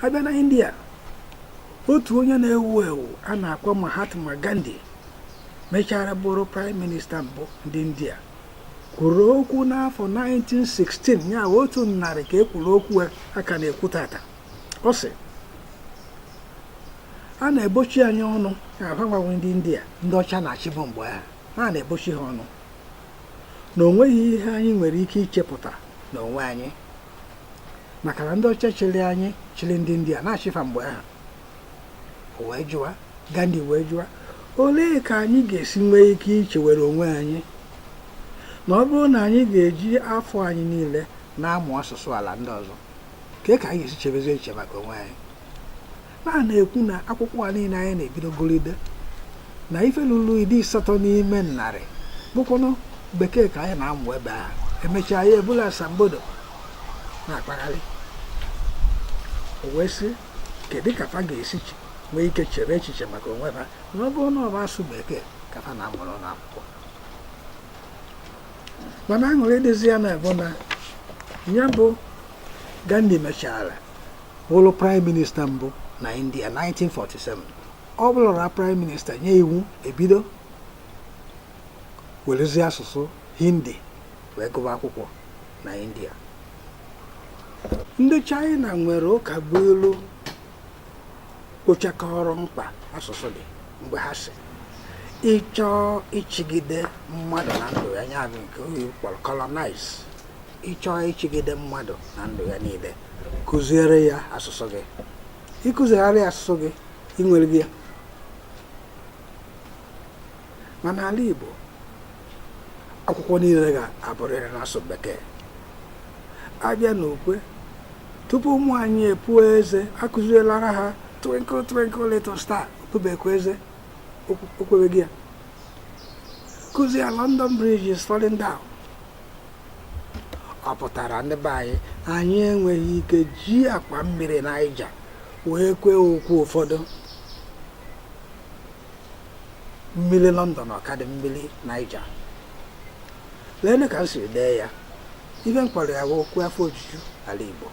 a bịa na india otu onye na-ewu ewu a na-akpọ mahatma gandhi mechara bụrụ praịm minista mbụ ndị india kwuru okwu n'afọ 1916 ya bụ otu narị ka e kwuru okwu a ka na-ekwu taata ọ sị a na-ebochi anyị ọnụ ka agbanwe ndị india ndị ọcha na-achịbu mgbe ahụ ha na-ebochi ha ọnụ na o nweghị ihe anyị nwere ike ichepụta n'onwe anyị maka na ndị ọcha chịrị anyị chịrị ndị india na-achị fa mgbe ahụ wee jụwa gandhi wee jụwa olee ka anyị ga-esi nwee ike ichewere onwe anyị na ọ bụrụ na anyị ga-eji afọ anyị niile na-amụ asụsụ ala ndị ọzọ kee ka anyị ga-esi chebezi echiche maka onwe anyị a na-ekwu na akwụkwọ a niile anyị na-ebidogoride na ife lulu iri asatọ n'ime narị bụkwanụ bekee ka anyị na-amụ ebe a e mechaa ya ebulu asambodo na-akpagharị o wee sị kedu ka fa ga-esi nwee ike chere echiche maka onwe ha na ọ bụrụ na ọ bụ asụ bekee ka fa na-amụrụ n'akwụkwọ mana aṅụrị dịzi ya na bụ na ya bụ Gandhi mechara bụrụ praịm minista mbụ na india 1947 ọ bụlụra praịm minista nye iwu e bido werezi asụsụ hindi wee gụba akwụkwọ na india ndị china nwere ụkabụilu kpochakọrọ mkpa asụsụ dị mgbe ha sị ị chọọ ịchịgide mmadụ na ndụ ya nya bụ nke oyibo kpọrọ colonize ị chọọ ịchịgide mmadụ na ndụ ya niile kụziere ya asụsụ gị ị kụziere ya asụsụ gị i nwerego ya mana ala Igbo akwụkwọ niile ga-abụrịrị n'asụ bekee a bịa n'ukwe tupu ụmụ anyị epuo eze akụzielara ha twinkle twinkle little star o pubekwa eze o kwebeghị ya kụzie London Bridge is falling down ọ pụtara ndị be anyị anyị enweghị ike ji akwa mmiri naija wee kwee ukwe ụfọdụ mmiri lọndọn ọ kadị mmiri naija leenụ ka m siri dee ya ife m kpọrọ ya bụ okwu afọ ojuju ala igbo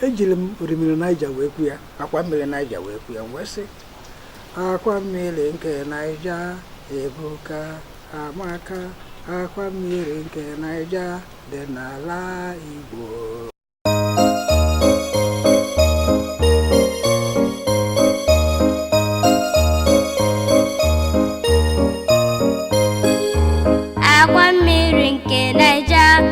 ejiri m orimiri naija wee kwu ya akwa mmiri naija wee kwu ya m wee sị akwa mmiri nke naija ebuka amaka akwa mmiri nke naija dị n'ala igbo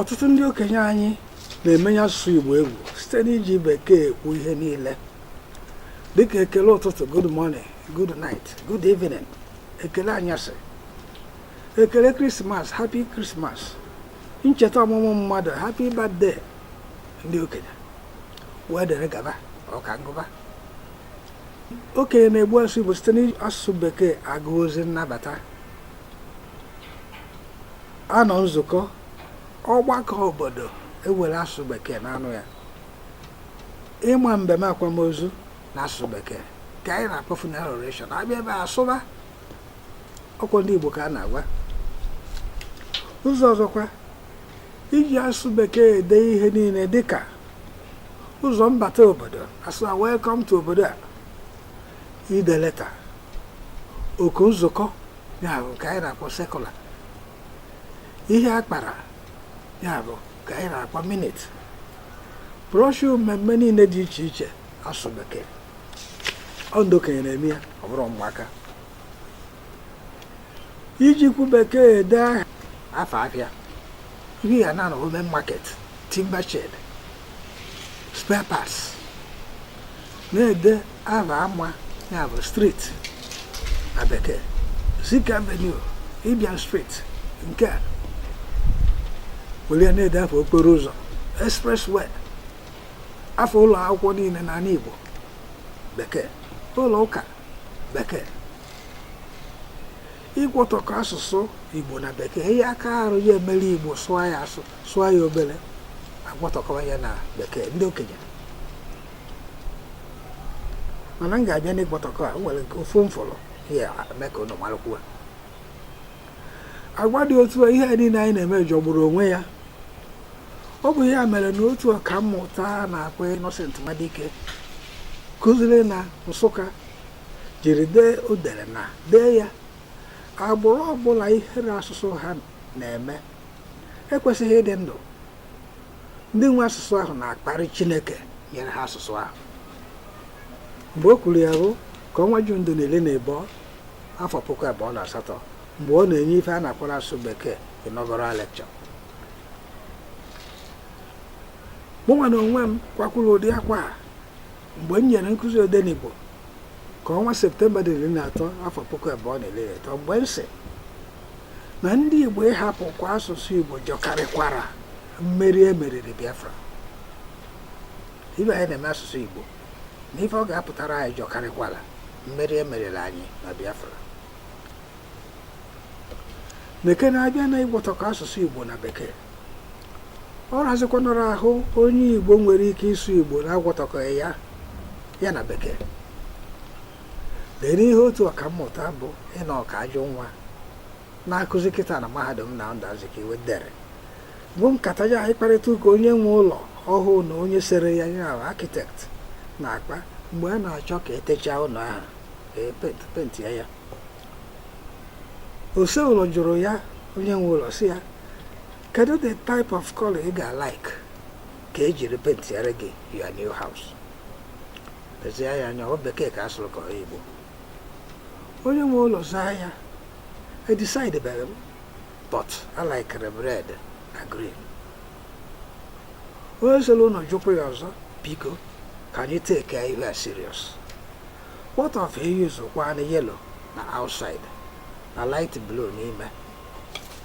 ọtụtụ ndị okenye anyị na-emenye asụsụ Igbo egwu site n'iji bekee ekwu ihe niile dịka ekele ụtụtụ good morning good night good evening ekele anyasị ekele krismas happy Christmas ncheta ọmụmụ mmadụ happy birthday ndị okenye wee dere gaba ọka ngụba okenye na-egbu asụsụ Igbo site n'asụsụ bekee agụ ozi nnabata a nọ nzukọ ọgbakọ obodo e were asụsụ bekee na-anọ ya ịma mbem akwamozu na asụsụ bekee ka anyị na-akpọ funeral oration a bịa ebe a sụba ọ kwa ndị Igbo ka a na-agwa ụzọ ọzọkwa iji asụsụ bekee ede ihe niile dịka ụzọ mbata obodo a sụwa welcome to obodo a ide leta oku nzukọ ya bụ nke anyị na-akpọ circular ihe a kpara ya bụ nke anyị na-akpọ minute brochure mmemme niile dị iche iche asụsụ bekee ọ ndị okenye na-eme ya ọ bụrọ ụmụaka iji okwu bekee ede aha afa afịa ị bịa n'Enugwu main market timber shed spare parts na-ede aha ama ya bụ street na bekee Zik Avenue Ibiam Street nke a were na-ede afa okporo ụzọ expressway afa ụlọ akwụkwọ niile n'ala Igbo bekee ụlọ ụka bekee ịgwọtọkọ asụsụ igbo na bekee ihe aka arụ ya e were igbo sụọ ya a sụọ ya obere a gwọtọkọwa ya na bekee ndị okenye mana m ga-abịa n'ịgwọtọkọ a nwere nke ofu mfọrọ ya eme ka ụnụ marụkwuo agwa dị otu a ihe a niile anyị na-eme jọgburu onwe ya ọ bụ ya mere na otu ọkammụta a na-akpọ Innocent Nwadike kụziri na Nsụka jiri dee o dere na dee ya agbụrụ ọbụla ihere asụsụ ha na-eme ekwesịghị ịdị ndụ ndị nwe asụsụ ahụ na-akparị Chineke nyere ha asụsụ ahụ mgbe o kwuru ya bụ ka ọnwa ju ndụ na-ele na-ebe afọ puku abụọ na asatọ mgbe ọ na-enye ife a na-akpọ n'asụsụ bekee inaugural lecture mụnwa na onwe m kwakwuru ụdị akwa a mgbe m nyere nkụzi odenigbo ka ọnwa septemba dị n'iri na atọ afọ puku abụọ na iri atọ mgbe m sị na ndị igbo ịhapụkwa asụsụ igbo jọkarịkwara mmeri e meriri biafra ife anyị na-eme asụsụ igbo na ife ọ ga-apụtara anyị jọkarịkwala mmeri e meriri anyị na Biafra meke na-abịa na ịgwọtọkọ asụsụ Igbo na Bekee ọ razikwanara ahụ onye Igbo nwere ike ịsụ Igbo na agwọtọkọ ya ya na Bekee gere ihe otu ọkammụta bụ Enoch Ajụnwa na-akụzi kịta na mahadum Nnamdi Azikiwe dere bụ nkata ya mkparịta ụka onye nwe ụlọ ọhụụ na onye sere ya ya bụ architect na-akpa mgbe a na-achọ ka e techaa ụlọ ahụ ka e pent penti ya ya ose ụlọ jụrụ ya onye nwe ụlọ sị ya kedu the type of color ị ga-alike ka e jiri pentiere gị your new house lezie ya anya ọ bekee ka a sụrụ ka ọ igbo onye nwe ụlọ zaa ya edecideberọ m but alikere m red na green onye sere ụnọ jụkwa ya ọzọ biko ka anyị takee ihe a serious what of e use kwanụ yellow na outside na light blue n'ime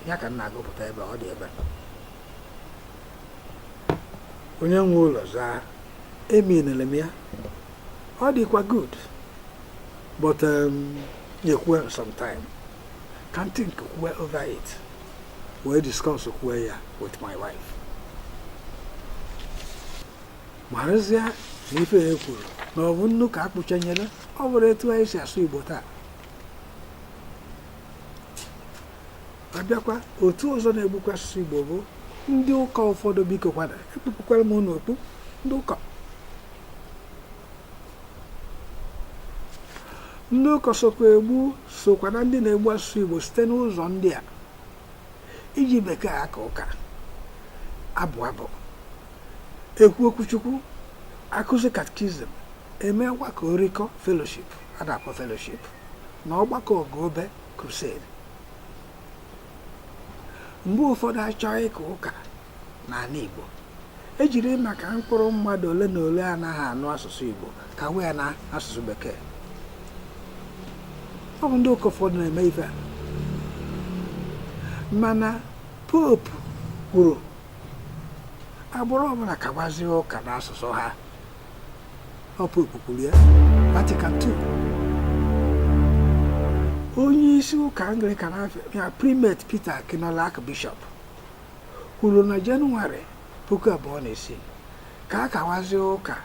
ya ka m na-agụpụta ebe ọ dị ebe onye nwe ụlọ zaa eminere m ya ọ dịkwa good but um, nyekwue m some time ka m think kwue over it wee discuss kwue ya with my wife marụzie na ife ya kwuru na ọ bụ nnu ka a kpụchanyere ọ bụrụ etu anyị si asụ igbo taa a bịakwa otu ọzọ na-egbukwa asụsụ Igbo bụ ndị ụka ụfọdụ bikokwanụ ekpupụkwara m unu okpu ndị ụka ndị ụka sokwa egbu sokwa na ndị na-egbu asụsụ Igbo site n'ụzọ ndị a iji bekee aka ụka abụ abụ ekwu okwuchukwu akụzi katkizim eme ọgbakọ orikọ feloship a na-akpọ feloship na ọgbakọ ọgụ obe crusade mgbe ụfọdụ a chọọ ịka ụka n'ala Igbo e jiri maka mkpụrụ mmadụ ole na ole anaghị anụ asụsụ Igbo kawa ya na asụsụ bekee ọ bụ ndị ụka ụfọdụ na-eme ife a mana popu kwuru agbụrụ ọbụla kawazie ụka n'asụsụ ha ọ popu kwuru ya Vatican II onye isi ụka anglikan ya Primate Peter Akinola Archbishop kwuru na jenụwarị puku abụọ na isii ka a kawazie ụka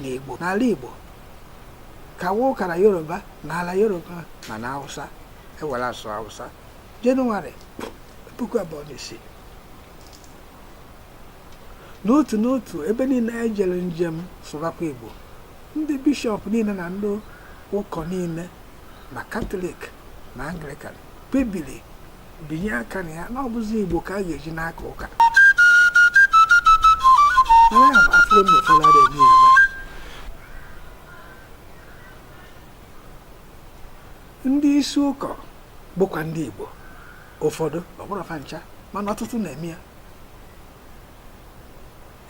na igbo n'ala igbo kawa ụka na yoruba na ala yoruba ma na hausa e were asụ hausa jenụwarị puku abụọ na isii n'otu n'otu ebe niile anyị jere njem sụbakwa Igbo ndị bishọp niile na ndị ụkọ niile ma katọlik ma anglikan kpebiri binye aka na ya na ọ bụzi Igbo ka a ga-eji na-aka ụka ndị isi ụkọ bụkwa ndị Igbo ụfọdụ ọ bụrọ fa ncha mana ọtụtụ na-eme ya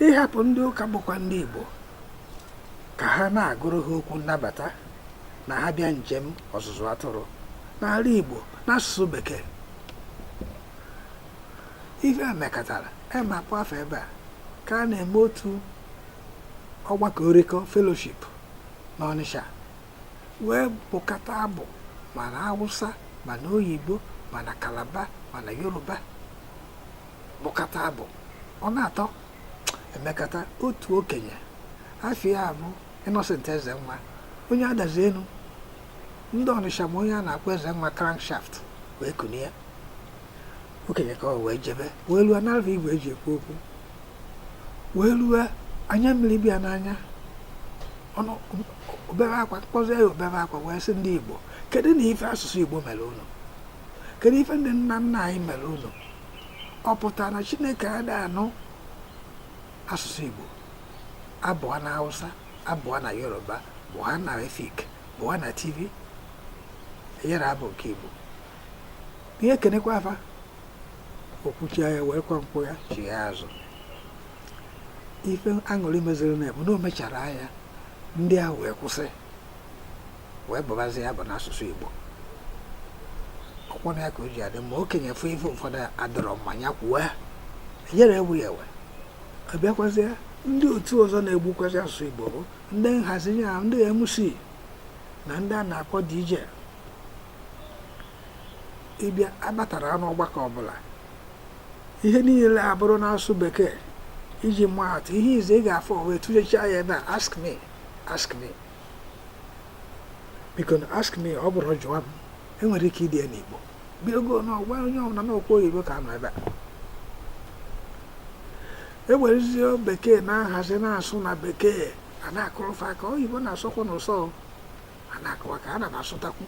ịhapụ ndị ụka bụkwa ndị Igbo ka ha na-agụrụ ha okwu nnabata na ha bịa njem ọzụzụ atụrụ n'ala Igbo n'asụsụ bekee ihe a mekatara emapụ afọ ebe a ka a na-eme otu ọgbakọ orikọ fellowship n'Ọnịsha wee bụkata abụ ma na awụsa ma na oyibo ma na kalaba ma na yoruba bụkata abụ ọ na-atọ e mekata otu okenye afa ya bụ Innocent Ezenwa onye Adazi Enu ndị Ọnịsha ma onye a na-akpọ Ezenwa crankshaft wee kunie okenye ka ọ wee jebe wee luo nalụ fa igwe e ji ekwu okwu wee luo anya mmiri bịa n'anya ọnụ o bere akwa kpọzie ya o bere akwa wee sị ndị igbo kedunụ ife asụsụ igbo mere ụnụ kedu ife ndị nna nna anyị mere ụnụ ọ pụtara na chineke adịghị anụ asụsụ igbo a bụọ na hausa a bụọ na yoruba bụọ na efik bụọ na Tiv enyere abụ nke igbo ya ekenekwa fa o kwuchaa ya wee kwa nkwụ ya chie azụ ife aṅụrị meziri na ebu na o mechara ya ndị ahụ wee kwụsị wee bụbazie abụ n'asụsụ Igbo ọ kwa na ya ka o ji adị mma okenye fụ ife ụfọdụ adịrọ mma nya kwuwe enyere egbu ya e wee bịakwazie ndị otu ọzọ na-egbukwazi asụsụ Igbo bụ ndị nhazi ya ndị MC na ndị a na-akpọ DJ ịbịa abatara n'ọgbakọ ọbụla ihe niile abụrụ na-asụ bekee iji maa atụ ihe ize ị ga-afụ wee tụlechaa ya ebe a ask me ask me biko na ask me ọ bụrụ jụwa m enwere ike ide ya n'igbo bịa ogo na ọgwa onye ọbụla n'okwu oyibo ka nọ ebe a ewerezie bekee na-ahazi na-asụ na bekee a na-akụrụ fa aka oyibo na-asọkwu unu ụsọ a na-akụ aka na ba sụtakwu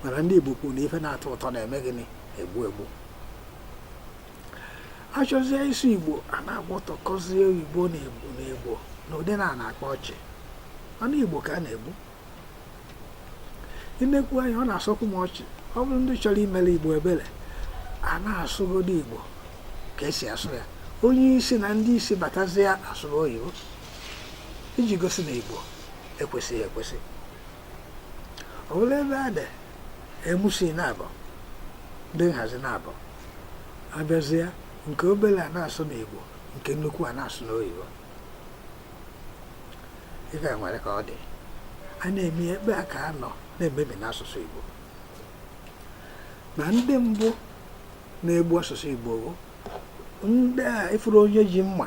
mana ndị Igbo kwuru na ife na-atọ ụtọ na-eme gịnị egbu egbu achọzie ịsụ Igbo a na-agba ụtọ kọzie Igbo na egbu na egbo n'ụdị na a na-akpa ọchị ọnụ Igbo ka a na-egbu ị na-ekwu anya ọ na-asọkwu m ọchị ọ bụrụ ndị chọrọ imere Igbo ebere a na-asụgodo Igbo ka esi asụ ya onye isi na ndị isi batazie a sụba oyibo iji gosi na Igbo ekwesịghị ekwesị ọ bụla ebe a dị MC naabọ ndị nhazi naabọ abịazie nke obere a na-asụ n'Igbo nke nnukwu a na-asụ n'oyibo ife nwere ka ọ dị a na-eme ebe a ka a nọ na-emebi n'asụsụ Igbo na ndị mbụ na-egbu asụsụ Igbo bụ ndị a ị fụrụ onye ji mma